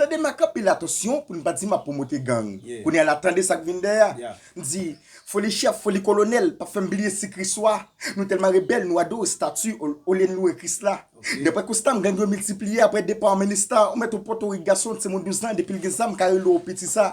Tande m ak anpil atansyon pou n pa di m ap pwomote gang. Kounye a la, tande sa k vin dèyè a. M di, Foli chèf, foli kolonèl pa fè m bliye si Kris wa. Nou tèlman rebèl, nou adore estati olye n louwe Kris la. Daprè konsta m, gang yo miltipliye aprè depa an Minista. Ou mèt ou Pòtorik, gason, timoun douzan depi l gen zam ka rele w piti sa.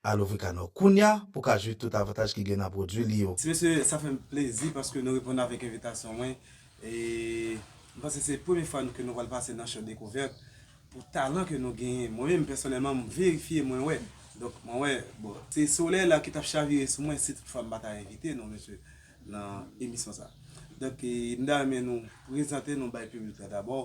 Al ouvri ka nou kounya pou w ka jwi tout avantaj ki gen nan pwodwi li yo. Ti mesye sa fè m plezi paske nou reponn avèk envitasyon mwen e m panse se premye fwa ke nou pral pase nan show dekouvèt pou talan ke nou genyen mwen menm pèsonèlman m verifye mwen wè donk mwen wè bon se solèy la ki tap chavire sou mwen si tout fwa m pa ta envite nou mesye nan emisyon sa donk m ta renmen nou prezante nou bay piblik la dabò.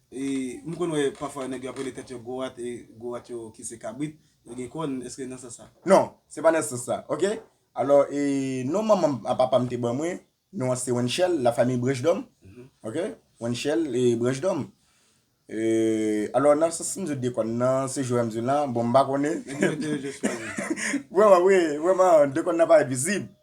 M konn wè pafwa nèg yo ap rele tèt yo Goat e Goat yo ki se kabrit yo gen kòn, èske nan sans sa? Non, se pa nan sans sa, ok. Alò, e non manman m a papa m te ban mwen, non an se Wenchèl, la famille Branchdom, ok, Wenchèl e Branchdom. E, alò nan sans m sot de kòn nan, se jwè m di w lan, bon m pa konnen. Nèg yo mete yo jwe swa nou. Vrèman, wi, vrèman, de kòn nan pa vizib.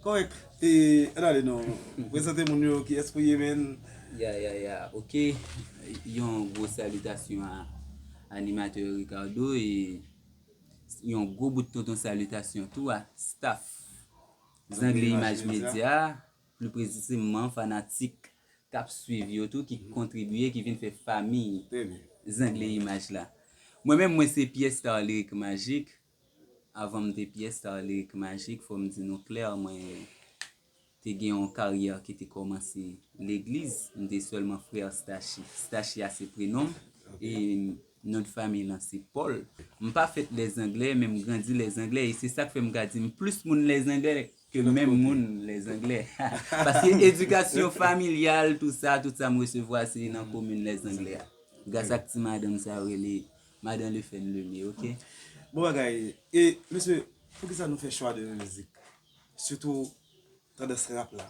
Kòrèk e an ale non prezante moun yo kiyès pou ye menn. Ya ya ya ok yon gwo salitasyon a animatè Ricardo e yon gwo bout tonton salitasyon tou a staff Zenglen Imaj Medya pli preziseman fanatik kap swiv yo tou ki kontribye ki vin fè famiy Zenglen Imaj la. Mwen menm mwen se Pierre Starlerick Magique Avan m te pyè star Lyric Magic, fò m di nou klè, mwen te gen yon karyè ki te kòmanse legliz. M te sèlman frè Stashi. Stashi a se prenon m e non de fanmi lan se Paul. M pa fèt Lèzanglè, men m grandi Lèzanglè e se sa k fè m ka di m plis moun Lèzanglè ke menm moun Lèzanglè. Paske edikasyon familyal, tou sa, tout sa m resevwa se nan komin Lèzanglè a. Gras ak ti madanm sa yo rele Madan le fè n lune ok. Bon bagay e mesye poukisa nou fè chwa de yon mizik sitou tandans rap la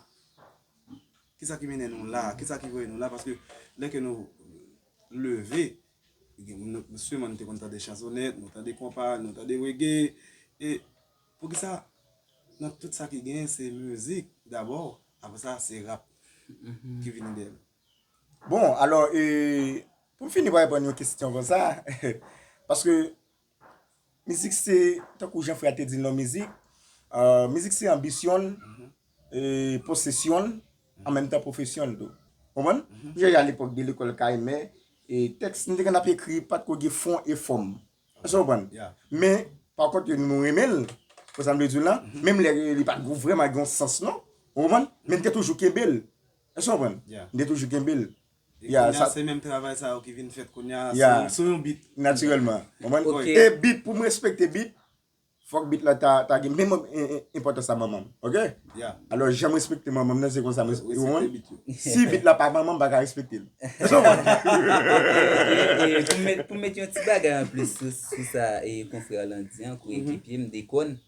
kisa ki mennen nou la kisa ki voye nou la paske lè ke nou leve souveman nou te konn tande chansonèt nou tande konpa nou tande rege e poukisa nan tout sa ki gen se mizik dabò apre sa se rap ki vini deyèl. Bon, alò, e, pou m fini pa reponn yon kestyon konsa, paske mizik se, tankou jan frè a te di l non mizik, mizik se anbisyon l, e, posesyon l, an menm tan pwofesyon l tou. Konprann? M sonje alepòk de lekòl Kayemè, e, tèks nou te konn ap ekri pa t ko gen fon e fòm. Èske w konprann? Men, pa kont ke nou renmen l, konsa m vle di w la, menm lè li pa t ko vrèman gen yon sans non. Ou konprann? Men n te toujou kenbe l. Èske w konprann? M te toujou kenbe l. E kounya se menm travay sa yo ki vin fèt kounya sou yon beat. Natirèlman. Ou konprann? E beat, pou m respekte beat, fòk beat la ta gen menm enpòtans a manman m. Ok? Alò, jan m respekte manman m nan, se konsa m respekte beat la. Si beat la pa manman m, m pa ka respekte l. Èske w konprann? Ok. Pou m met yon ti bagay anplis sou sa konfrè w lan di an, koyekipye m, Deconne.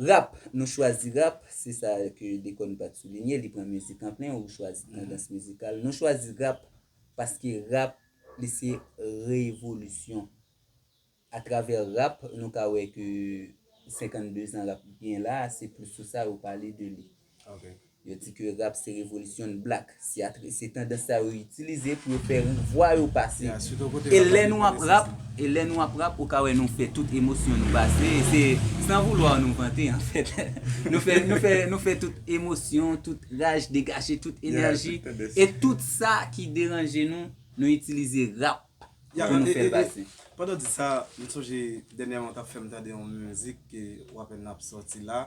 Rap, nou chwazi rap, se sa ke Deconne pat soulinye, li pran mizik an plen, ou chwazi tandans mizikal. Nou chwazi rap paske rap li se revolisyon. A travè rap, nou ka wè ke 52 zan rap gen la, se plis sou sa yo pale de li. Yo di ke rap se revolisyon black. Se tandans sa yo itilize pou yo fè vwa yo pase. E lè nou ap rap, e lè nou ap rap ou ka wè nou fè tout emosyon nou pase. E se san voulwa nou vante an fèt. Nou fè, nou fè, nou fè tout emosyon, tout raj, degaje tout enèji. E tout sa ki deranje nou, nou itilize rap pou nou fèl pase. Pandan w di sa, m sonje dènyèman w t ap fè m tande yon mizik ke w apenn ap sòti la.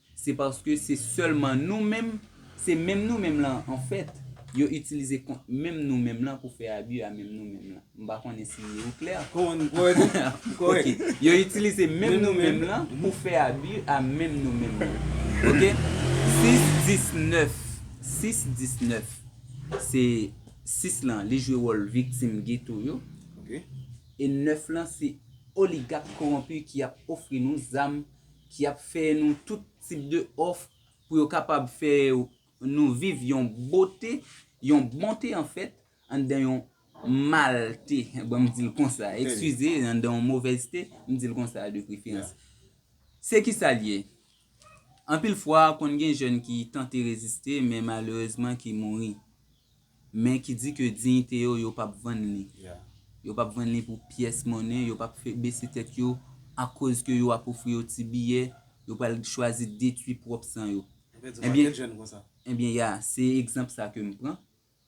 Se paske se sèlman nou menm, se menm nou menm lan an fèt, yo itilize kont menm nou menm lan pou fè abi a menm nou menm lan. M pa konnen si ou klè. Ok. Yo itilize menm nou menm lan pou fè abi a menm nou menm lan. Ok. 6 19, 6 19, se 6 lan li jwe wòl viktim geto yo. Ok. E 9 lan se oligak kowonpi ki ap ofri nou zam. ki ap fè nou tout tip de òf pou yo kapab fè nou viv yon bote, yon bonte an fèt, anndan yon malte, bon m di l konsa, ekskize, anndan yon movèzte, m di l konsa de preferans. Se ki sa l ye? Anpil fwa konn gen jèn ki tante reziste men malerezman ki mouri. Men ki di ke diyite yo, yo pap vann li. Yo pap vann li pou pyès monnen, yo pap fè bese tèt yo akoz ke yo ap ofri yo ti biyè, yo pral chwazi detwi pwòp san yo. Ebyen ya, se egzanp sa ke m pran,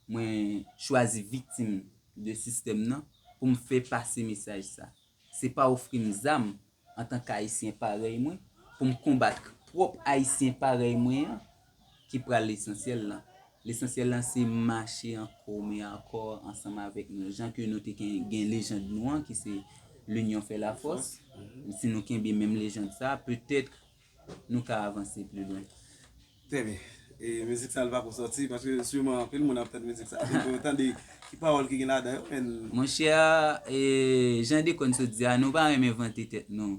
mwen chwazi viktim de sistèm nan pou m fè pase mesaj sa. Se pa ofri m zam antan k Ayisyen parèy mwen, pou m konbat k pwòp Ayisyen parèy mwen an ki pral lesansyèl lan. Lesansyèl lan se mache an kòm e an kò ansanm avèk nou, jan ke nou te gen lejand nou an ki se L'union fait la force, si nou kenbe menm lejand sa a, petèt nou ka avanse pli lwen. Trè byen. E mizik sa li pa ko sòti paske siman anpil moun ap tand mizik sa pou yo tande ki pawòl ki gen ladan yo men. Monchè jan Deconne sot di a nou pa renmen vante tèt nou.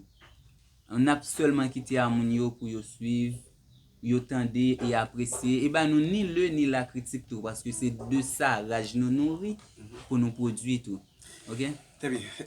Nap sèlman kite a moun yo pou yo swiv, yo tande e apresye e ba nou ni le ni la kritik tou paske se de sa raj nou nouri pou nou pwodwi tou. Ok. Trè byen.